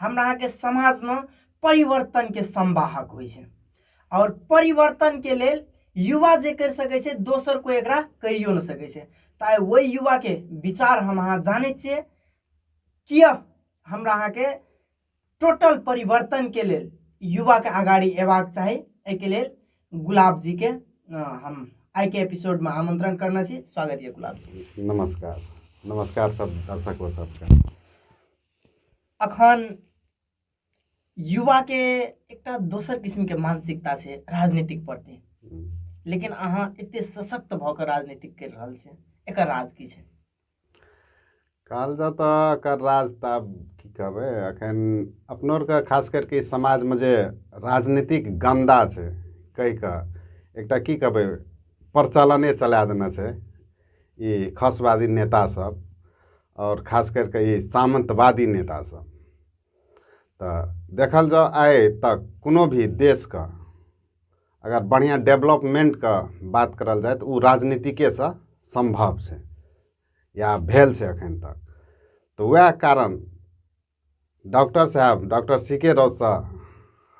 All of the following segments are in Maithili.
हमरा अहाँके समाजमे परिवर्तनके संवाहक होइ छै आओर परिवर्तनके लेल युवा जे करि सकै छै दोसर कोइ एकरा करियो नहि सकै छै तऽ ओहि युवाके विचार हम अहाँ जानै छियै किए हमरा अहाँके टोटल परिवर्तनके लेल युवाके अगाडि अयबाक चाही एहिके लेल गुलाब जीके हम आइके एपिसोडमे आमंत्रण करना छी स्वागत यऽ गुलाब जी नमस्कार नमस्कार सब दर्शकों सबके अखन युवा के एक दोसर किस्म के मानसिकता से राजनीतिक प्रति लेकिन अहाँ एते सशक्त भऽ कऽ राजनीतिक कर रहल छै एकर राज की छै कहल जाउ तऽ एकर राज तऽ आब की कहबै एखन अपनो आरके खास करके ई समाजमे जे राजनीतिक गन्दा छै कहि कऽ एकटा की कहबै प्रचलने चला देने छै ई खसवादी नेता सब आओर खास करिके ई सामन्तवादी नेता सब तऽ देखल जाउ आइ तक कोनो भी देशके अगर बढ़िआँ डेवलपमेन्टके बात करल जाए तऽ ओ राजनीतिकेसँ सम्भव छै या भेल छै एखन तक तऽ वएह कारण डॉक्टर साहेब डॉक्टर सी के राउतसँ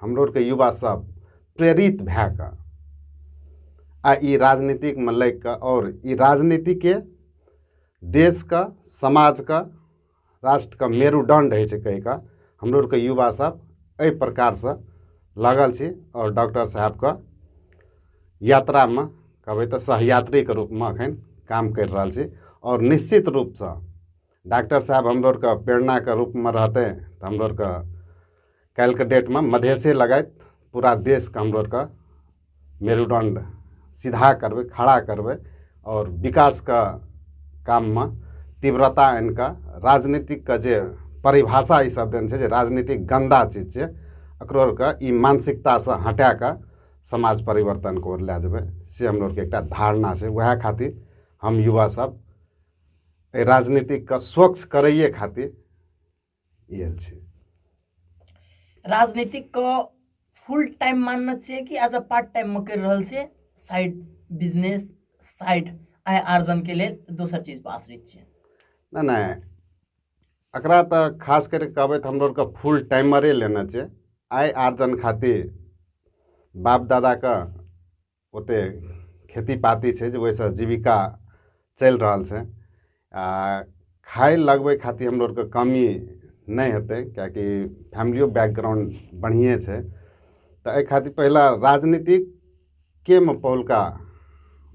हमरो आरके युवासभ प्रेरित भए कऽ आ ई राजनीतिकमे लागि कऽ आओर ई राजनीतिके देशके समाजके राष्ट्रके मेरुदण्ड होइ छै कहि कऽ हमरो आरके युवासभ एहि प्रकारसँ लागल छी आओर डॉक्टर साहेबके यात्रामे कहबै तऽ सहयात्रीके रूपमे एखन काम करि रहल छी आओर निश्चित रूपसँ डाक्टर साहेब हाम्रो आरके प्रेरणाको रूपमा रहतै त हाम्रो आरके काल्हिके डेटमे मधेसे लगायत पुरा देशके हाम्रो आरके मेरुदण्ड सिधा करबै खड़ा करबै आओर विकासके काममे तीव्रता आनिके राजनीतिकके जे परिभाषा ई सब देने छै जे राजनीति गन्दा चीज छियै एकरो आरके ई मानसिकतासँ हटाके समाज परिवर्तनके ओर लए जेबै से हमरो आरके एकटा धारणा छै वएह खातिर हम युवा सब एहि राजनीतिकके स्वच्छ करैए खातिर आयल छै राजनीतिकके फुल टाइम मानना चाहिए कि एज अ पार्ट टाइममे करि रहल छियै साइड बिजनेस साइड आय आर्जनके लेल दोसर चीजपर आश्रित छियै नहि नहि एकरा तऽ खास करि कहबै तऽ हमरो आरके फुल टाइमरे लेना छै आय आर्जन खातिर बाप दादाके ओते खेती पाती छै जे ओहिसँ जीविका चलि रहल छै आ खाय लगबै खातिर हमरो आरके कमी नहि हेतै किएकि फैमिलियो बैकग्राउंड बढ़िएँ छै तऽ एहि खातिर पहिले राजनीतिक के मे पहिलुका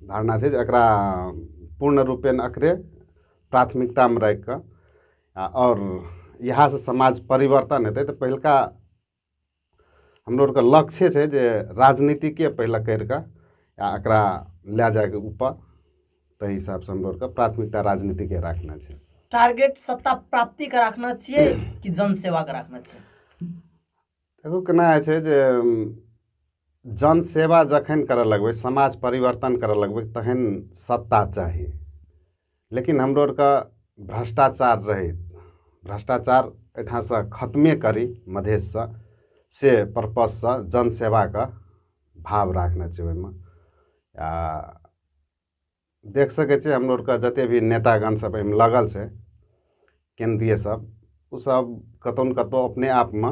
धारणा छै जे एकरा पूर्ण रूपेण एकरे प्राथमिकतामे राखि कऽ आ आओर इएहसँ समाज परिवर्तन हेतै तऽ पहिलुका हाम्रो आरके लक्ष्य छै जे राजनीतिके पहिले करि कऽ आ एकरा लए जायके ऊपर ताहि हिसाबसँ हमरो आरके प्राथमिकता राजनीतिके राखना छै टारगेट सत्ता प्राप्तिके राखना छियै कि जनसेवाके राखना छियै देखो केना होइ छै जे जनसेवा जखन करय लगबै समाज परिवर्तन करय लगबै तखन सत्ता चाही लेकिन हमरो आरके भ्रष्टाचार रहै भ्रष्टाचार एहिठामसँ खतमे करी मधेशसँ से पर्पजसँ जनसेवाके भाव राखने छै ओहिमे आ देख सकै छियै हमरो आरके जतेक भी नेतागण सभ एहिमे लागल छै केन्द्रीय सब ओ सब कतौ ने कतौ अपने आपमे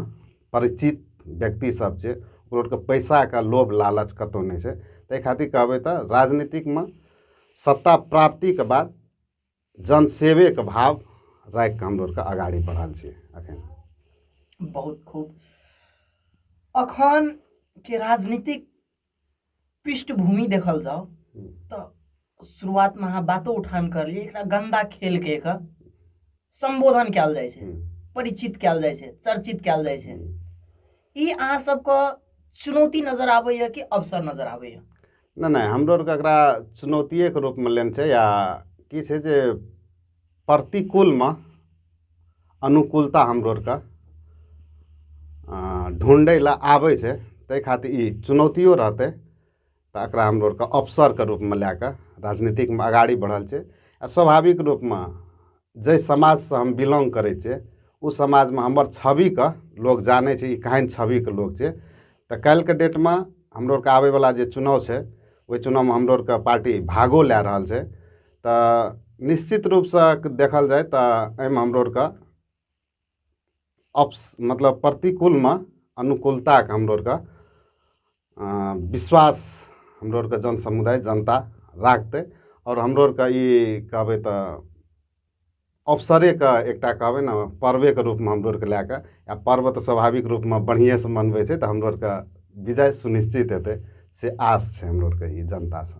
परिचित व्यक्ति सब छै ओ लोकके पैसाके लोभ लालच कतौ नहि छै ताहि खातिर कहबै तऽ राजनीतिकमे सत्ता प्राप्तिके बाद जन सेवेके भाव राखि कऽ हमलोग अगाड़ी बढ़ल छी अखन बहुत खूब अखन के राजनीतिक पृष्ठभूमि देखल जाओ तो शुरुआत में अहाँ बातो उठान कर लिए एकरा गंदा खेल के एक संबोधन कल जाए छे परिचित कल जाए छे चर्चित कल जाए छे ई अहाँ सबके चुनौती नजर आबैए कि अवसर नजर आबैए नहि नहि हमरो आरके एकरा चुनौतिएके रूपमे लेने छै या की छै जे प्रतिकूलमे अनुकूलता हमरो आरके ढूँढै लए आबै छै ताहि खातिर ई चुनौतियो रहतै तऽ एकरा हमरो आरके अवसरके रूपमे लए कऽ राजनीतिकमे अगाड़ी बढ़ल छै आ स्वाभाविक रूपमे जाहि समाजसँ हम बिलोंग करै छियै ओ समाजमे हमर छविके लोक जानै छै ई केहन छविके लोक छै तऽ काल्हिके डेटमे हमरो आरके आबै बला जे चुनाव छै ओहि चुनावमे हमरो आरके पार्टी भागो लए रहल छै तऽ निश्चित रूपसँ देखल जाय तऽ एहिमे हमरो आरके अप्स मतलब प्रतिकूलमे अनुकूलताके हमरो आरके विश्वास हमरो आरके जन समुदाय जनता राखतै आओर हमरो आरके ई कहबै तऽ अवसरेके एकटा कहबै ने पर्वेके रूपमे हमरो आरके लए कऽ आ पर्व तऽ स्वाभाविक रूपमे बढ़िएँसँ मनबै छै तऽ हमरो आरके विजय सुनिश्चित हेतै से आस छै हमरो आरके ई जनतासँ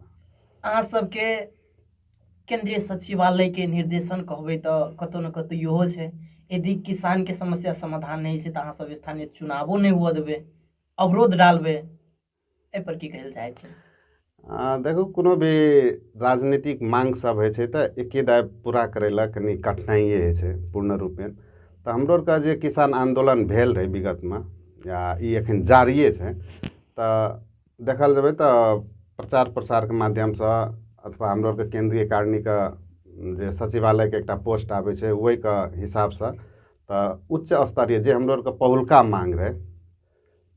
अहाँ सबके केंद्रीय सचिवालयके निर्देशन कहबै तऽ कतौ ने कतौ इहो छै यदि किसानके समस्या समाधान नहि छै तऽ अहाँ सब स्थानीय चुनावो नहि हुअ देबै अवरोध डालबै एहिपर की कहय लए चाहै छी आ, देखू कोनो भी राजनीतिक मांग सब होइ छै तऽ एके दाय पूरा करै लए कनि कठिनाइए होइ छै पूर्ण रूपेण तऽ हमरो आरके जे किसान आन्दोलन भेल रहै विगतमे या ई एखन जारिए छै तऽ देखल जेबै तऽ प्रचार प्रसारके माध्यमसँ अथवा हमरो आरके केन्द्रीय कारणीके जे सचिवालयके एकटा पोस्ट आबै छै ओहिके हिसाबसँ तऽ उच्च स्तरीय जे हमरो आरके पहिलका मांग रहै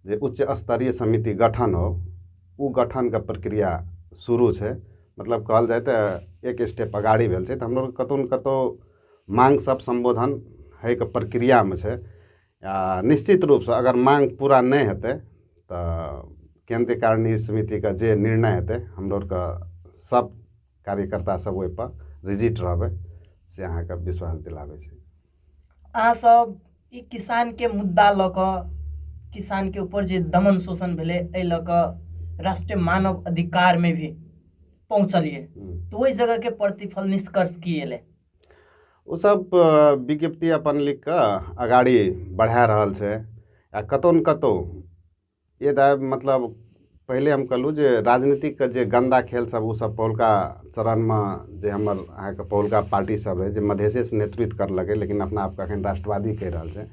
जे उच्च स्तरीय समिति गठन हो ओ गठनके प्रक्रिया सुरु छै मतलब कहल जाइ तऽ एक स्टेप अगाडि भेल छै तऽ हमरो कतौ ने कतौ माँग सब सम्बोधन होइके प्रक्रियामे छै आ निश्चित रुपसँ अगर माँग पुरा नहि हेतै तऽ केन्द्रीय कारणीय समितिके जे निर्णय हेतै हमरो आरके सब कार्यकर्ता सब ओहिपर रिजिट रहबै से अहाँके विश्वास दिलाबै छी अहाँ सब ई किसान के मुद्दा लऽ कऽ किसान के ऊपर जे दमन शोषण भेलै एहि लऽ कऽ राष्ट्रीय मानव अधिकार में भी पहुंचलिए हम्म। तो वही जगह के प्रतिफल निष्कर्ष की एले ओ सब विज्ञप्ति अपन लिख कऽ अगाड़ी बढ़ा रहल छै आ कतौ ने कतौ ये दा मतलब पहिले हम कहलहुँ जे राजनीतिकके जे गन्दा खेलसभ ओसभ पौलका चरणमे जे हमर अहाँके पौलका पार्टीसभ रहै जे मधेसेसँ नेतृत्व करलकै लेकिन अपना आपके एखन राष्ट्रवादी कहि रहल छै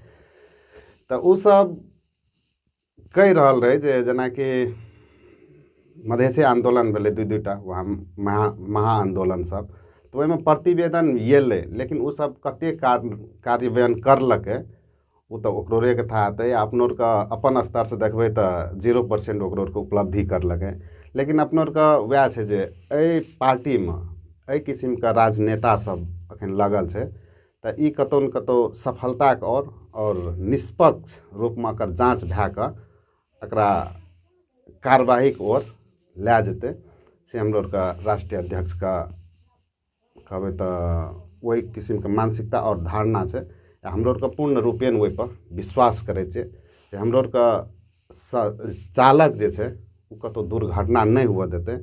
तऽ ओसभ कहि रहल रहै जे जेनाकि मधेसे आन्दोलन भेलै दुइ दुइ टा वहाँ महा महा आन्दोलनसभ तऽ ओहिमे प्रतिवेदन एलै लेकिन ओसभ कतेक कार्य कार्यान्वयन करलकै ओ तऽ ओकरो आरके थाह हेतै आ अपनो आरके अपन स्तर से देखबै तऽ जीरो पर्सेंट ओकरो आरके उपलब्धि करलकै लेकिन अपनो आरके वएह छै जे एहि पार्टीमे एहि किसिमके राजनेता सब अखन लागल छै तऽ ई कतौ ने कतौ सफलताके ओर आओर निष्पक्ष रूपमे एकर जाँच भए कऽ एकरा कार्यवाहीके ओर लए जेतै से हमरो आरके राष्ट्रीय अध्यक्षके कहबै तऽ ओहि किसिमके मानसिकता आओर धारणा छै हमरो आओरके पूर्ण रूपेण ओहिपर विश्वास करै छिए जे हमरो आओरके स चालक जे छै ओ कतहु दुर्घटना नहि हुअए देतै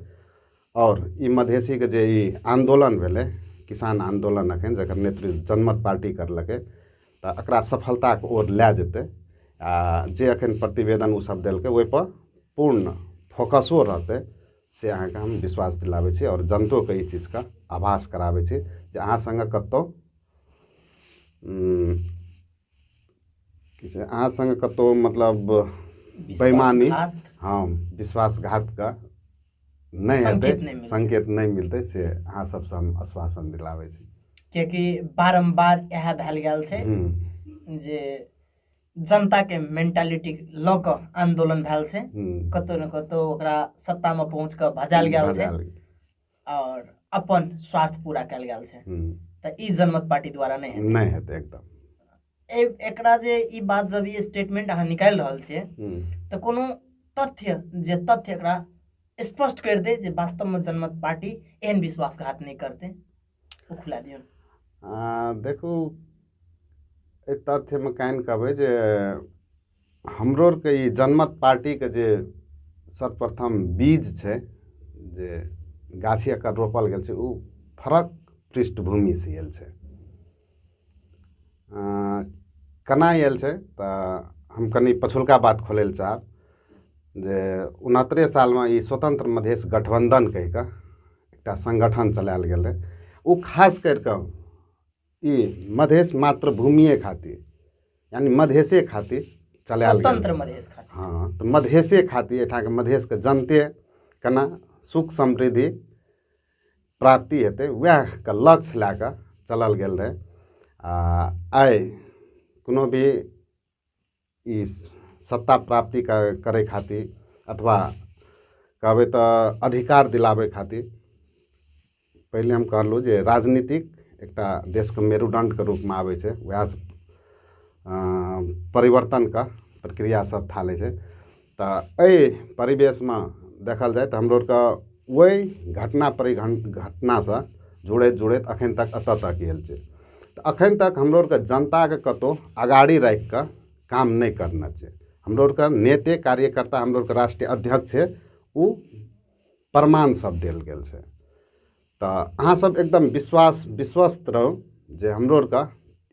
आओर ई मधेशीके जे ई आन्दोलन भेलै किसान आन्दोलन एखन जकर नेतृत्व जनमत पार्टी करलकै तऽ एकरा सफलताके ओर लऽ जेतै आओर जे एखन प्रतिवेदन ओसब देलकै ओहिपर पूर्ण फोकसो रहतै से अहाँके हम विश्वास दिलाबै छी आओर जनतोके ई चीजके आभास कराबै छी जे अहाँ सङ्गे कतहु की छै अहाँ सङ्गे कतहु मतलब बेमानी हँ विश्वासघातके नहि हेतै संकेत नहि मिलतै से अहाँ सबसँ हम आश्वासन दिलाबै छी कियाकि बारम्बार इएह भेल गेल छै जे जनताके मेन्टालिटी लऽ कऽ आन्दोलन भेल छै कतहु ने कतहु ओकरा सत्तामे पहुँच कऽ भजायल गेल छै आओर अपन स्वार्थ पूरा कयल गेल छै तऽ ई जनमत पार्टी द्वारा नहि हेतै नहि हेतै एकदम एकरा जे ई बात जब ई स्टेटमेंट अहाँ निकालि रहल छियै तऽ कोनो तथ्य जे तथ्य एकरा स्पष्ट करि दे जे वास्तवमे जनमत पार्टी एहन विश्वासघात नहि करतै ओ खुला दियौन अँ, देखू एहि तथ्यमे कान कहबै जे हमरो आरके ई जनमत पार्टीके जे सर्वप्रथम बीज छै जे गाछी एकर रोपल गेल छै ओ फरक पृष्ठभूमिसँ आयल छै केना आयल छै तऽ हम कनि पछुलका बात खोलय लए चाहब जे उनहत्तरे सालमे ई स्वतंत्र मधेश गठबंधन कहि कऽ एकटा संगठन चलायल गेल रहै ओ खास करि कऽ ई मधेश मातृभूमिये खातिर यानि मधेशे खातिर चलायल गेल स्वतंत्र मधेश खातिर हँ तऽ मधेशे खातिर एहिठामके मधेशके जनते केना सुख समृद्धि प्राप्ति हेतै उएहके लक्ष्य लए कऽ चलल गेल रहै आ आइ कोनो भी ई सत्ता प्राप्ति कर करय खातिर अथवा कहबै तऽ अधिकार दिलाबै खातिर पहिले हम कहलहुँ जे राजनीतिक एकटा देशके मेरुदण्डके रूपमे आबै छै उएह परिवर्तनके प्रक्रियासभ थालै छै तऽ एहि परिवेशमे देखल जाय तऽ हमरो आरके ओहि घटना परि घटनासँ जुड़ैत जुड़ैत एखन तक एतय तक आयल छै तऽ एखन तक हमरो आरके जनताके कतहु अगाड़ी राखि कऽ काम नहि करने छै हमरो आरके नेते कार्यकर्ता हमरो आरके राष्ट्रीय अध्यक्ष छै ओ प्रमाणसभ देल गेल छै तऽ अहाँ सब एकदम विश्वास विश्वस्त रहू जे हमरो आरके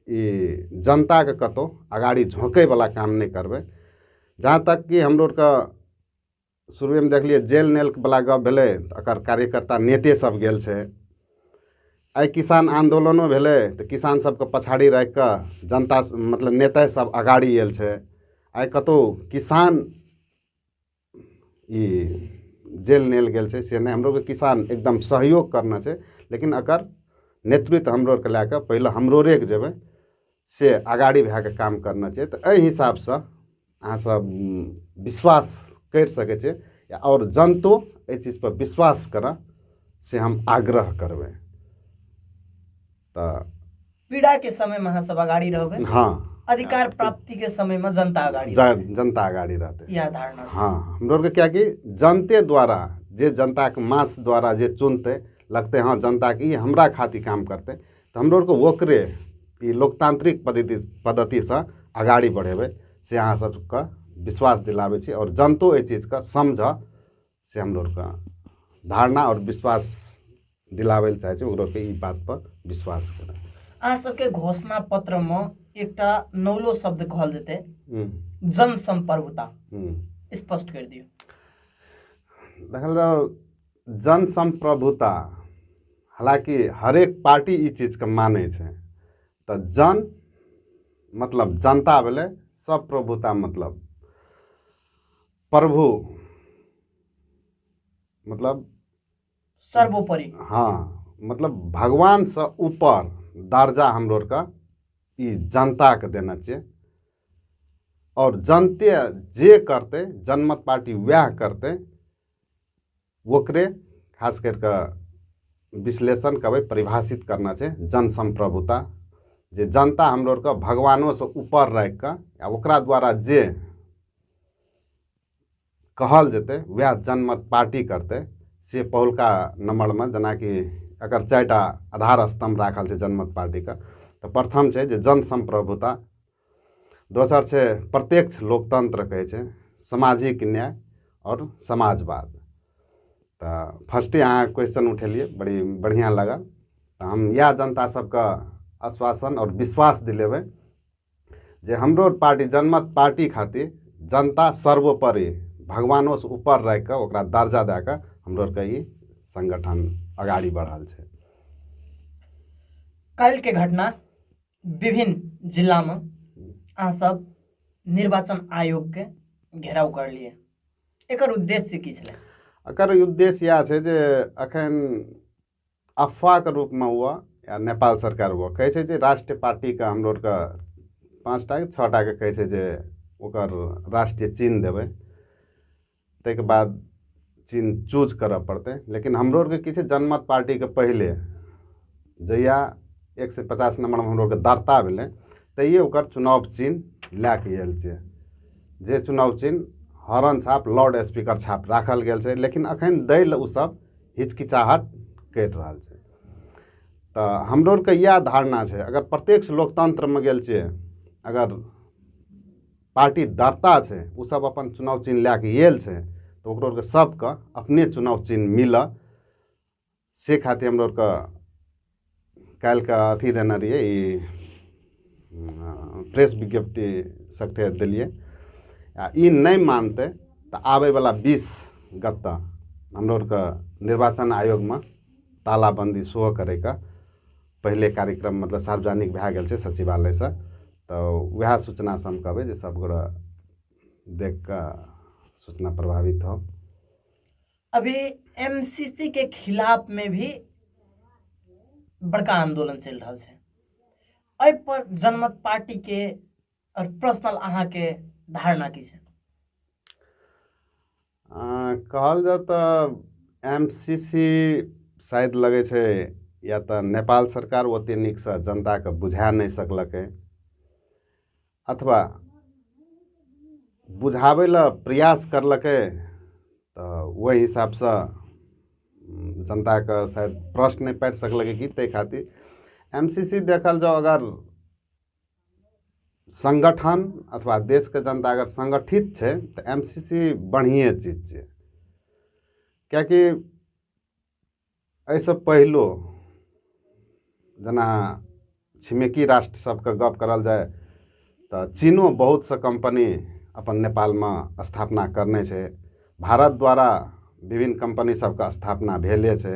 ई जनताके कतौ अगाड़ी झोकै बला काम नहि करबै जहाँ तक कि हमरो आरके शुरूएमे देखलियै जेल नेल बला गप भेलै तऽ एकर कार्यकर्ता नेते सब गेल छै आइ किसान आन्दोलनो भेलै तऽ किसान सबके पछाड़ी राखि कऽ जनता मतलब नेते सब अगाड़ी आयल छै आइ कतौ किसान ई जेल लेल गेल छै से नहि हमरो अरके किसान एकदम सहयोग करने छै लेकिन एकर नेतृत्व हमरो अरके लए कऽ पहिले हमरो अरे जेबय से अगाड़ी भए कऽ काम करना छै तऽ अइ हिसाबसँ अहाँ सब विश्वास करि सकय छियै आओर जनतो अइ चीजपर विश्वास करय से हम आग्रह करबय त पीड़ा के समय में अहाँ सब अगाड़ी रहबे हाँ अधिकार प्राप्ति के समय में जनता अगाड़ी रहबे। ज- जनता अगाडि रहतै यह धारणा से। हाँ हमरो आरके क्या कि जनते द्वारा जे जनता के मास द्वारा जे चुनते लगते हाँ जनता के ई हमरा खातिर काम करते तो हमरो आरके ओकरे ई लोकतांत्रिक पद्धति पद्धति से अगाडि बढ़ेबै से अहाँ सबके विश्वास दिलाबै छी और जनतो एहि चीज के समझ से हमरा आरके धारणा आओर विश्वास दिलाबै लए चाहै छै ओकरा आरके ई बात पर विश्वास करै अहाँ सबके घोषणा पत्र मे एकटा नौलो शब्द कहल जेतै हम्म, जन संपर्कता हम्म। स्पष्ट कर दियौ देखल जाओ जन संप्रभुता हालांकि हरेक पार्टी ई चीजके मानै छै तऽ जन मतलब जनता भेलै सब प्रभुता मतलब प्रभु मतलब सर्वोपरि हँ मतलब भगवानसँ ऊपर दर्जा हमरो आरके ई जनताके देना चाहिए आओर जनते जे करतै जनमत पार्टी वएह करतै ओकरे खास करि कऽ विश्लेषण करबै परिभाषित करना छै जनसम्प्रभुता जे जनता हमरो आरके भगवानोसँ ऊपर राखि कऽ आ ओकरा द्वारा जे कहल जेतै उएह जनमत पार्टी करतै से पहिलका नम्बरमे जेनाकि एकर चारि टा आधार स्तम्भ राखल छै जनमत पार्टीके तऽ प्रथम छै जे जनसम्प्रभुता दोसर छै प्रत्यक्ष लोकतन्त्र कहै छै सामाजिक न्याय आओर समाजवाद तऽ फर्स्टे अहाँ क्वेश्चन उठेलियै बड़ी बढ़िआँ लागल तऽ हम इएह जनता सबके आश्वासन आओर विश्वास दिलेबै जे हमरो पार्टी जनमत पार्टी खातिर जनता सर्वोपरि भगवानोसँ ऊपर राखि कऽ ओकरा दर्जा दए कऽ हमरो आरके ई संगठन अगाड़ी बढ़ल छै काल्हिके घटना विभिन्न जिल्लामे अहाँसभ निर्वाचन आयोगके घेराव करलियै एकर उद्देश्य की छलै एकर उद्देश्य इएह छै जे एखन अफवाहके रूपमे हुअ या नेपाल सरकार हुअ कहै छै जे राष्ट्रीय पार्टीके हमरो आरके पाँच टा छओ टाके कहै छै जे ओकर राष्ट्रीय चिन्ह देबै ताहिके बाद चिन्ह चूज करऽ पड़तै लेकिन हमरो आरके की छै जनमत पार्टीके पहिले जहिया एक सए पचास नम्बरमे हमरो आरके दर्ता भेलै तहिये ओकर चुनाव चिन्ह लए कऽ आयल छै जे चुनाव चिन्ह हॉर्न छाप लाउड स्पीकर छाप राखल गेल छै लेकिन अखन दै लए ओ सब हिचकिचाहट करि रहल छै तऽ हमरो आरके इएह धारणा छै अगर प्रत्यक्ष लोकतन्त्रमे गेल छियै अगर पार्टी दर्ता छै ओ सब अपन चुनाव चिन्ह लए कऽ आयल छै तऽ ओकरो आरके सबके अपने चुनाव चिन्ह मिलऽ से खातिर हमरो आरके काल्हिके अथी देने रहियै ई प्रेस विज्ञप्ति सबके देलियै आ ई नहि मानतै तऽ आबै बला बीस गते हमरो आरके निर्वाचन आयोगमे तालाबन्दी सेहो करैके पहिले कार्यक्रम मतलब सार्वजनिक भए गेल छै सचिवालयसँ तऽ उएह सूचनासँ हम कहबै जे सभगोरे देख कऽ सूचना प्रभावित हो अभी एमसीसी के खिलाफ में भी बड़का आंदोलन चल रहा है एहि पर जनमत पार्टी के और पर्सनल अहाँ के धारणा की है कहल जाउ तऽ एम सी सी शायद लगै छै या तऽ नेपाल सरकार ओतेक नीकसँ जनताकेँ बुझा नहि सकलकै अथवा बुझाबै लए प्रयास करलकै तऽ ओहि हिसाबसँ जनताके शायद प्रश्न नहि पाटि सकलकै कि ताहि खातिर एम सी सी देखल जाउ अगर सङ्गठन अथवा देशके जनता अगर सङ्गठित छै तऽ एम सी सी बढ़िएँ चीज छै किएकि एहिसँ पहिलो जेना छिमेकी राष्ट्र सभके गप्प करल जाय तऽ चीनो बहुत सा कम्पनी अपन नेपालमे स्थापना करने छै भारत द्वारा विभिन्न कम्पनी सभके स्थापना भेले छै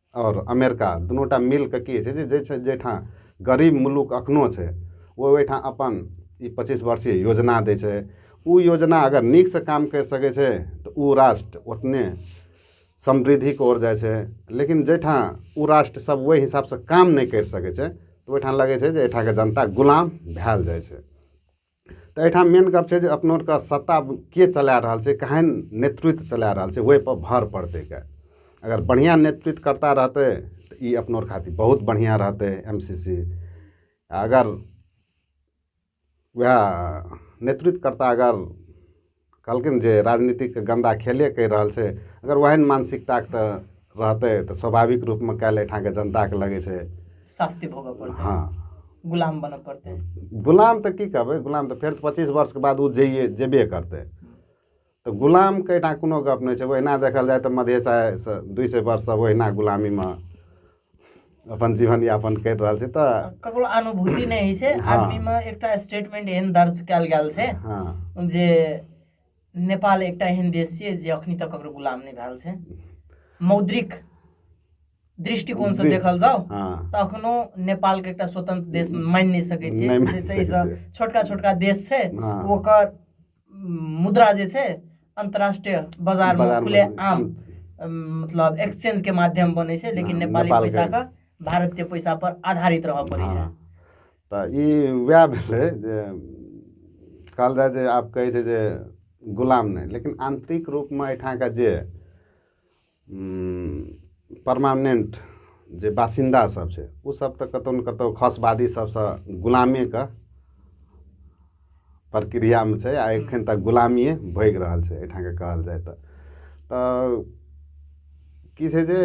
आओर अमेरिका दुनू टा मिल कऽ की होइ छै जे छै जाहिठाम गरीब मुलुक एखनो छै ओ ओहिठाम अपन ई पचीस वर्षीय योजना दै छै ओ योजना अगर नीकसँ काम करि सकै छै तऽ ओ राष्ट्र ओतने समृद्धिके ओर जाइ छै लेकिन जाहिठाम ओ राष्ट्रसभ ओहि हिसाबसँ काम नहि करि सकै छै ओहिठाम लगै छै जे एहिठामके जनता गुलाम भेल जाइ छै तऽ एहिठाम मेन गप छै जे अपना आओरके सत्ता के चला रहल छै केहन नेतृत्व चला रहल छै ओहिपर भर पड़तै गऽ अगर बढ़िआँ नेतृत्वकर्ता रहतै तऽ ई अपना आओर खातिर बहुत बढ़िआँ रहतै एम सी सी अगर उएह नेतृत्वकर्ता अगर कहलखिन जे राजनीतिक गन्दा खेले कहि रहल छै अगर ओहन मानसिकता तऽ रहतै तऽ स्वाभाविक रूपमे काल्हि एहिठामके जनताके लगै छै शास्ति भोगऽ पड़तै हँ गुलाम बनऽ पड़तै गुलाम तऽ की कहबै गुलाम तऽ फेर पच्चीस वर्षके बाद ओ जइए जेबे करतै तऽ गुलामके एहिठाम कोनो गप नहि छै ओहिना देखल जाय तऽ मधेश आय दुइ सए वर्षसँ ओहिना गुलामीमे अपन जीवन यापन करि रहल छै तऽ ककरो अनुभूति नहि होइ छै हाँ। आदमीमे एकटा स्टेटमेंट एहन दर्ज कयल गेल छै हाँ। जे नेपाल एकटा एहन देश छियै जे अखनी तक ककरो गुलाम नहि भेल छै मौद्रिक दृष्टिकोण से देखल जाओ हाँ। तऽ अखनो नेपाल के एकटा स्वतंत्र देश मानि नहि सकै छै छोटका छोटका देश छै हाँ। ओकर मुद्रा जे छै अन्तर्राष्ट्रिय बजार मे बजारमे खुले आम आम छै। अम, मतलब एक्सचेंज के माध्यम बने छै लेकिन हाँ, नेपाली नेपाल के- पैसा का भारत के पैसा पर आधारित रह पड़े छै हँ तऽ ई वएह भेलै जे कहल जाय जे आब कहै छै जे गुलाम नहि लेकिन आंतरिक रूपमे एहिठामका जे परमानेन्ट जे बासिन्दा सब छै ओ सब तऽ कतौ ने कतौ खसवादी सबसँ गुलामे कऽ प्रक्रियामे छै आ एखन तक गुलामिये भोगि रहल छै एहिठाम के कहल जाय तऽ तऽ की छै जे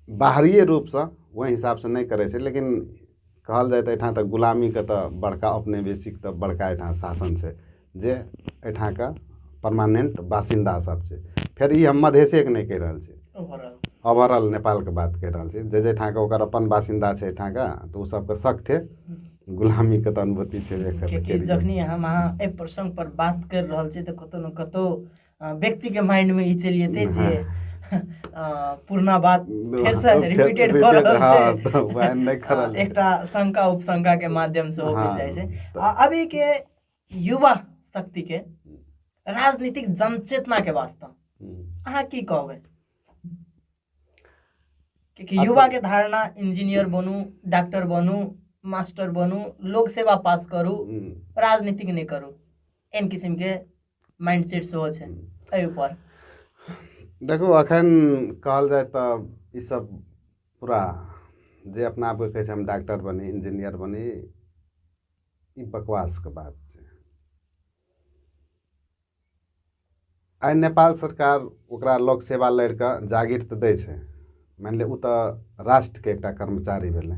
बाहरिये रूपसँ ओहि हिसाबसँ नहि करै छै लेकिन कहल जाय तऽ एहिठाम तऽ गुलामी के तऽ बड़का औपनिवेशिक तऽ बड़का एहिठाम शासन छै जे एहिठाम के परमानेंट बासिन्दा सब छै फेर ई हम मधेशे के नहि कहि रहल छी ओवर ऑल नेपाल के बात कहि रहल छी जे जे ठाम के ओकर अपन बासिन्दा छै एहिठाम के तऽ ओ सबके सगठे गुलामी के तऽ अनुभूति छेबे करै किएकि जखनी हम अहाँ एहि प्रसंग पर बात करि रहल छी तऽ कतौ ने कतौ व्यक्ति के माइंड में ई चलि जेतै जे हाँ। पुरना बात फेर से रिपीटेड भऽ रहल हाँ, छै तऽ वएह नहि करल एकटा शंका उपशंका के माध्यम से हो हाँ, जाइ छै आ अभी के युवा शक्ति के राजनीतिक जनचेतना के वास्ते अहाँ की कहबै क्योंकि युवा के धारणा इंजीनियर बनू डॉक्टर बनू मास्टर बनू लोक सेवा पास करू राजनीतिक नहि करू एहन किसिम के माइंड सेट सेहो छै एहि ऊपर देखू अखन कहल जाय तऽ ईसभ पूरा जे अपना आपके कहै छै हम डॉक्टर बनी इंजीनियर बनी ई बकवासके बात छै आइ नेपाल सरकार ओकरा लोक सेवा लड़ि कऽ जागीर तऽ दै छै मानि लिअ ओ तऽ राष्ट्रके एकटा कर्मचारी भेलै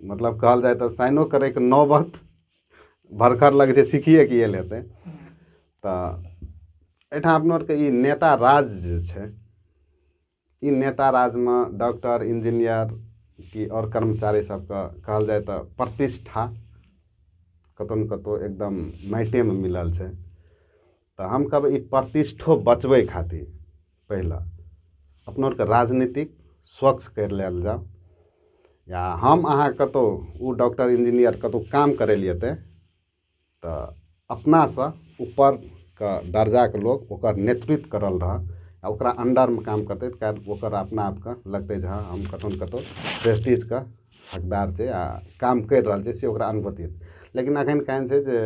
मतलब कहल जाय तऽ साइनो करयके नौबत भरखर लगै छै सीखिए कऽ आयल हेतै तऽ एहिठाम अपना आरके ई नेता राज जे छै ई नेता राजमे डॉक्टर इंजीनियर कि आओर कर्मचारी सभके कहल जाय तऽ प्रतिष्ठा कतहु ने कतहु एकदम माटिएमे मिलल छै तऽ हम कहब ई प्रतिष्ठो बचबै खातिर पहिले अपना आरके राजनीति स्वच्छ करि लेल जाउ या हम अहाँ कतौ ओ डॉक्टर इन्जीनियर कतौ काम करै लए जेतै तऽ अपना सऽ ऊपर के दर्जा के लोक ओकर नेतृत्व कऽ रहल रहऽ आ ओकरा अन्दर मे काम करतै तऽ काल्हि ओकर अपना आप के लगतै जे हँ हम कतौ ने कतौ प्रेस्टीज के हकदार छियै आ काम करि रहल छियै से ओकरा अनुभूति हेतै लेकिन अखन केहन छै जे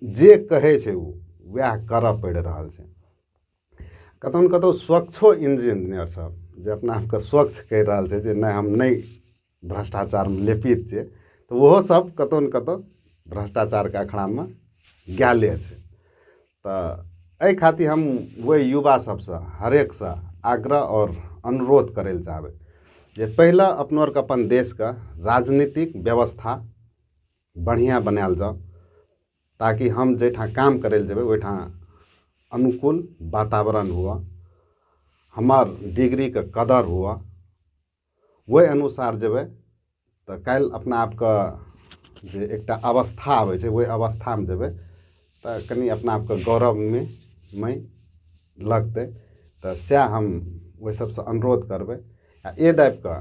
जे कहै छै ओ वएह करऽ पड़ि रहल छै कतौ ने कतौ स्वच्छो इंजीनियर सब जे अपना आपके स्वच्छ कहि रहल छै जे नहि हम नहि भ्रष्टाचारमे लेपित छियै तऽ ओहो सब कतौ ने कतौ भ्रष्टाचारके अखरामे गेले छै तऽ एहि खातिर हम ओहि युवा सबसँ हरेक सऽ आग्रह आओर अनुरोध करै लए चाहबै जे पहिले अपना आरके अपन देशके राजनीतिक व्यवस्था बढ़िआँ बनायल जाउ ताकि हम जाहिठाम काम करय लए जेबै ओहिठाम अनुकूल वातावरण हुअ हमर डिग्रीके कदर हुअ ओहि अनुसार जेबै तऽ काल्हि अपना आपके जे एकटा अवस्था अबै छै ओहि अवस्थामे जेबै तऽ कनि अपना आपके गौरवमे नहि लगतै तऽ सएह हम ओहि सभसँ अनुरोध करबै आ एहि दाबि कऽ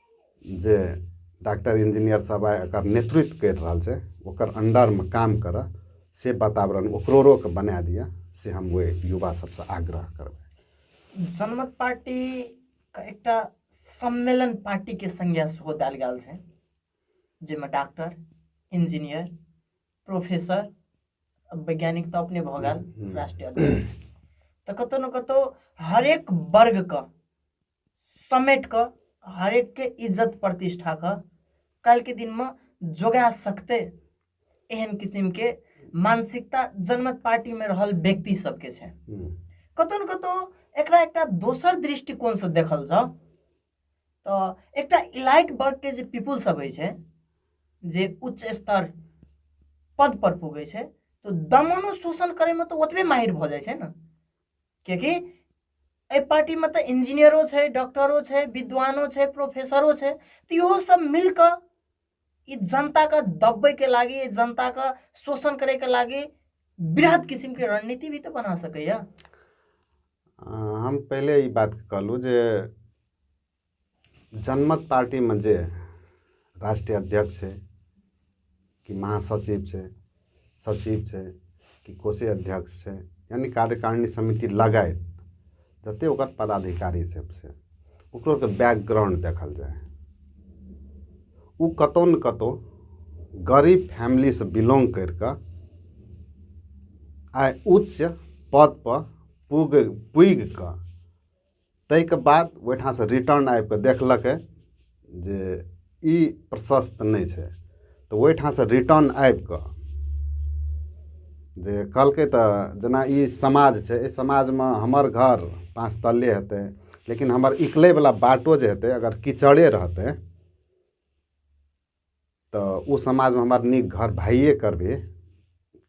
जे डाक्टर इन्जिनियर सब आइ एकर नेतृत्व करि रहल छै ओकर अण्डरमे काम करऽ से वातावरण ओकरोरोके बना दिअ से हम ओहि युवा सबसँ आग्रह करबै जनमत पार्टीके एकटा सम्मेलन पार्टीके संज्ञा सेहो देल गेल छै जाहिमे डॉक्टर इंजीनियर प्रोफेसर वैज्ञानिक तऽ अपने भऽ गेल राष्ट्रीय अध्यक्ष तऽ कतौ ने कतौ हरेक वर्गके समेट कऽ हरेकके इज्जत प्रतिष्ठाके काल्हिके दिनमे जोगा सकतै एहन किसिमके मानसिकता जनमत पार्टीमे रहल व्यक्ति सबके छै कतहु ने कतहु एकरा एकटा दोसर दृष्टिकोणसँ देखल जाउ तऽ एकटा इलाइट वर्गके जे पीपुल सब होइ छै जे उच्च स्तर पद पर पुगै छै तऽ दमनो शोषण करैमे तऽ ओतबे माहिर भऽ जाइ छै ने किएकि एहि पार्टीमे तऽ इंजीनियरो छै डॉक्टरो छै विद्वानो छै प्रोफेसरो छै तऽ इहो सब मिल कऽ ई जनताके दबैके लागि जनताके शोषण करैके लागि बृहद किसिमके रणनीति भी तऽ बना सकैए हम पहिले ई बात कहलहुँ जे जनमत पार्टीमे जे राष्ट्रीय अध्यक्ष छै कि महासचिव छै सचिव छै कि कोषीय अध्यक्ष छै यानि कार्यकारिणी समिति लगायत जतेक ओकर पदाधिकारी सब छै ओकरो ओकर बैकग्राउंड देखल जाय ओ कतौ ने कतौ गरीब फैमिलीसँ बिलोंग करि कऽ आइ उच्च पदपर पुग पुगि कऽ ताहिके बाद ओहिठामसँ रिटर्न आबि कऽ देखलकै जे ई प्रशस्त नहि छै तऽ ओहिठामसँ रिटर्न आबि कऽ जे कहलकै तऽ जेना ई समाज छै एहि समाजमे हमर घर पाँच तल्ले हेतै लेकिन हमर निकलयवला बाटो जे हेतै अगर कीचड़े रहतै तऽ ओ समाजमे हमरा नीक घर भाइए करबै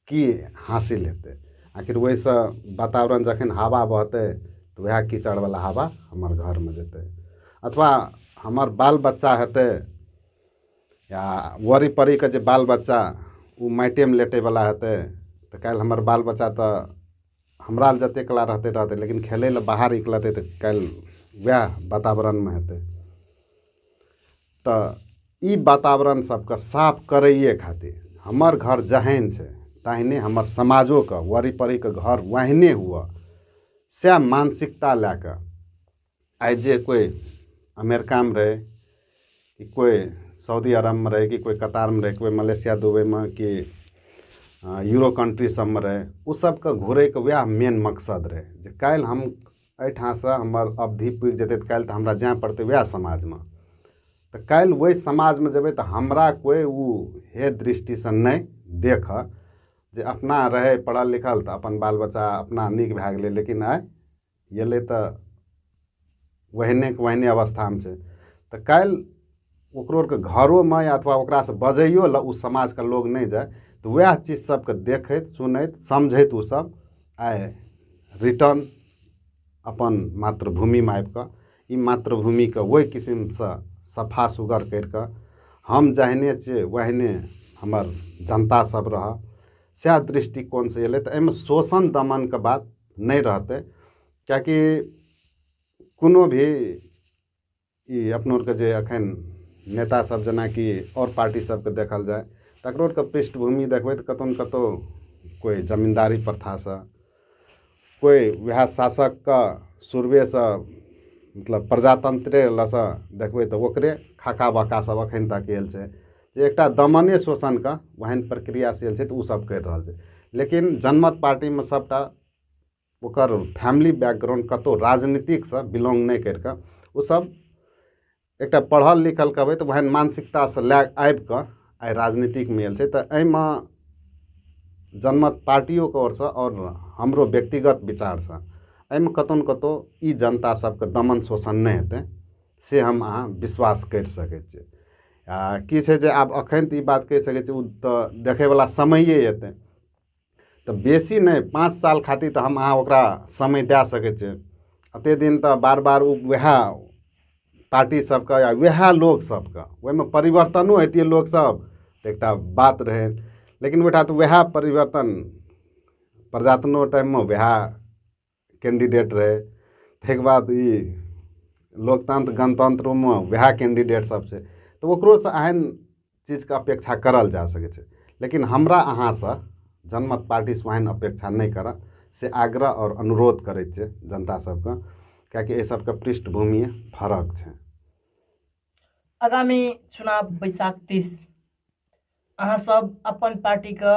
की हासिल हेतै आखिर ओहिसँ वातावरण जखन हवा बहतै तऽ उएह कीचड़वला हवा हमर घरमे जेतै अथवा हमर बाल बच्चा हेतै या ओड़ी पड़ीके जे बाल बच्चा ओ माटिएमे लेटयवला हेतै तऽ काल्हि हमर बाल बच्चा तऽ हमरा लेल जतेक कला रहतै रहतै लेकिन खेलय लेल बाहर निकलतै तऽ काल्हि उएह वातावरणमे हेतै तऽ ई वातावरण सबके साफ करैये खातिर हमर घर जहैन छै तहैने हमर समाजोके वरिपरिके घर ओहने हुअ सएह मानसिकता लए कऽ आइ जे कोइ अमेरिकामे रहै कि कोइ सऊदी अरबमे रहै कि कोइ कतारमे रहै कि कोइ मलेशिया दुबइमे कि यूरो कन्ट्री सबमे रहै उ सबके घुरैके वएह मेन मकसद रहै जे काल्हि हम एहिठामसँ हमर अवधि पुरि जेतै तऽ काल्हि तऽ हमरा जाय पड़तै उएह समाजमे तऽ काल्हि ओहि समाजमे जेबै तऽ हमरा कोइ ओ हेय दृष्टिसँ नहि देखय जे अपना रहय पढ़ल लिखल तऽ अपन बाल बच्चा अपना नीक भए गेलै लेकिन आइ अयलै तऽ ओहनेके ओहने अवस्थामे छै तऽ काल्हि ओकरो आरके घरोमे या अथवा ओकरासँ बजैयो लए ओ समाजके लोग नहि जाइ तऽ वएह चीज सबके देखैत सुनैत समझैत ओ सब आइ रिटर्न अपन मातृभूमिमे आबि कऽ ई मातृभूमिके ओहि किसिमसँ सफा सुग्घर करि कऽ हम जहने छियै ओहने हमर जनता सब रहऽ सएह दृष्टिकोणसँ अयलै तऽ एहिमे शोषण दमनके बात नहि रहतै किएकि कोनो भी ई अपना आरके जे अखन नेता सब जेनाकि आओर पार्टी सबके देखल जाय तकरो आरके पृष्ठभूमि देखबै तऽ कतौ ने कतौ कोइ जमीन्दारी प्रथा सऽ कोइ वएह शासक के शुरुए सऽ मतलब प्रजातंत्रे लऽ सऽ देखबै तऽ ओकरे खाका बाका सब अखन तक आयल छै जे एकटा दमने शोषण के ओहन प्रक्रिया से आयल छै तऽ ओ सब कैर रहल छै लेकिन जनमत पार्टीमे सबटा ओकर फैमिली बैकग्राउण्ड कतहु राजनीतिकसँ बिलॉन्ग नहि करि कऽ ओसभ एकटा पढ़ल लिखल कहबै तऽ ओहन मानसिकतासँ लए आबि कऽ आइ राजनीतिकमे आयल छै तऽ एहिमे जनमत पार्टियोके ओरसँ आओर हमरो व्यक्तिगत विचारसँ एहिमे कतहु ने कतहु ई जनता सभके दमन शोषण नहि हेतै से हम अहाँ विश्वास करि सकै छी आ की छै जे आब एखन तऽ ई बात कहि सकै छी ओ तऽ देखयवला समैए हेतै तऽ बेसी नहि पाँच साल खातिर तऽ हम अहाँ ओकरा समय दए सकै छियै एतेक दिन तऽ बार बार ओ उएह पार्टी सभके या उएह लोक सभके ओहिमे परिवर्तनो अयतियै लोकसभ तऽ एकटा बात रहै लेकिन ओहिठाम तऽ उएह परिवर्तन प्रजातन्त्रो टाइममे उएह कैंडिडेट रहै ताहिके बाद ई लोकतंत्र गणतंत्रोमे उएह कैंडिडेटसभ छै तऽ ओकरोसँ एहन चीजके अपेक्षा करल जा सकै छै लेकिन हमरा अहाँसँ जनमत पार्टीसँ ओहन अपेक्षा नहि करब से आग्रह आओर अनुरोध करै छियै जनता सभकेँ किएकि एहि सभके पृष्ठभूमि फरक छै आगामी चुनाव बैशाख तीस अहाँसभ अपन पार्टीके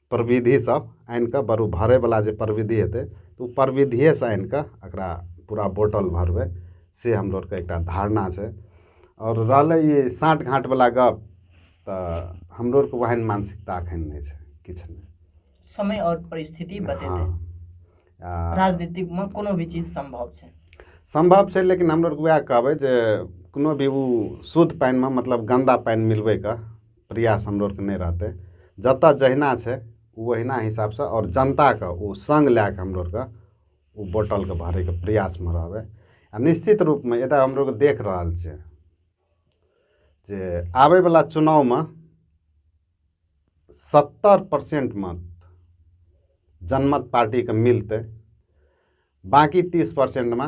प्रविधि सब आनि कऽ बरु भरै बला जे प्रविधि हेतै ओ प्रविधिये सँ आनि कऽ एकरा पूरा बोटल भरबै से हमरा आरके एकटा धारणा छै आओर रहलै ई साँठ गाँठ बला गप तऽ हमरो आरके ओहन मानसिकता अखन नहि छै किछु नहि समय और परिस्थिति हँ बतेतै आ राजनीतिक में कोनो भी चीज संभव छै सम्भव छै लेकिन हमरो आरके उएह कहबै जे कोनो भी ओ शुद्ध पानिमे मतलब गन्दा पानि मिलबैके प्रयास हमरो आरके नहि रहतै जतऽ जहिना छै ओ ओहिना हिसाब सऽ आओर जनता के ओ संग लए कऽ हमरो आरके ओ बोतल के भरै के प्रयास मे रहबै आ निश्चित रूप मे एतऽ हमरो आरके देख रहल छियै जे आबै बला चुनाव मे सत्तर परसेंट मत जनमत पार्टी के मिलतै बाकी तीस परसेंट मे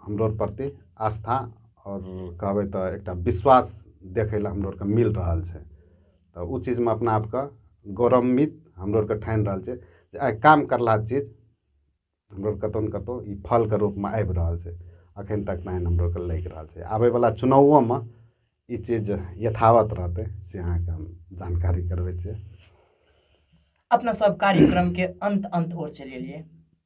हमरो आर प्रति आस्था आओर कहबै तऽ एकटा विश्वास देखै लए हमरो आरके मिल रहल छै तऽ ओ चीजमे अपना आपके गौरवान्वित हमरो आरके ठानि रहल छियै जे आइ काम करलाके चीज हमरो आरके कतौ ने कतौ ई फलके रूपमे आबि रहल छै अखन तक नहि हमरो आरके लागि रहल छै आबै बला चुनावोमे ई चीज यथावत रहतै से अहाँके हम जानकारी करबै छियै अपना सब कार्यक्रम के अंत अंत ओर चलि एलियै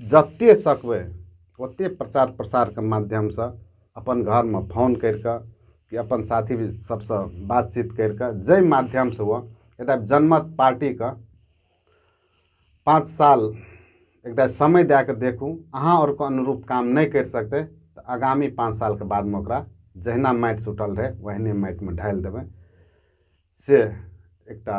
जते सकबै ओते प्रचार प्रसारके माध्यमसँ अपन घरमे फोन करि कऽ कि अपन साथी सबसँ बातचीत करि कऽ जाहि माध्यमसँ ओ एकटा जनमत पार्टीके पाँच साल एकटा समय दए कऽ देखू अहाँ आओरके अनुरूप काम नहि करि सकतै तऽ आगामी पाँच सालके बादमे ओकरा जहिना माटि सुटल रहै ओहिने माटिमे ढालि देबै से एकटा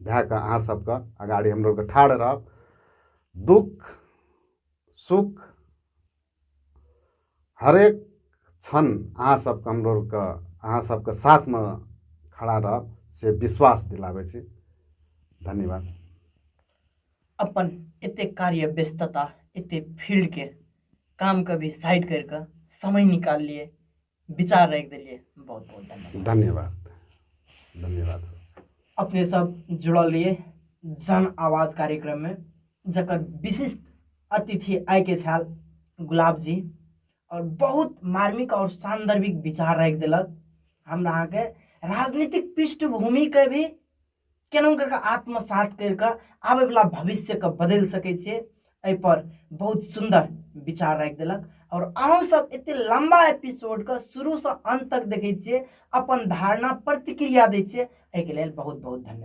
भए कऽ अहाँ सबके अगाड़ी हम लोग ठाढ़ रहब दुःख सुख हरेक क्षण अहाँ सबके हम लोगके अहाँ सबके साथमे खड़ा रहब से विश्वास दिलाबै छी धन्यवाद अपन एते कार्य व्यस्तता एते फील्डके कामके भी साइड करि कऽ समय निकाललियै विचार राखि देलियै बहुत बहुत धन्यवाद धन्यवाद धन्यवाद अपने सब जुड़ल रहिए जन आवाज कार्यक्रम में जकर विशिष्ट अतिथि आय के छल गुलाब जी और बहुत मार्मिक और सान्दर्भिक विचार राखि दिलक हमरा अहाँके राजनीतिक पृष्ठभूमि के भी केना कऽ कऽ आत्मसात करि कऽ आबयवला भविष्यके बदलि सकै छियै एहिपर बहुत सुन्दर विचार राखि देलक आओर अहूँसभ एतेक लम्बा एपिसोडके शुरूसँ अन्त तक देखै छियै अपन धारणा प्रतिक्रिया दै छियै एहिके लेल बहुत बहुत धन्यवाद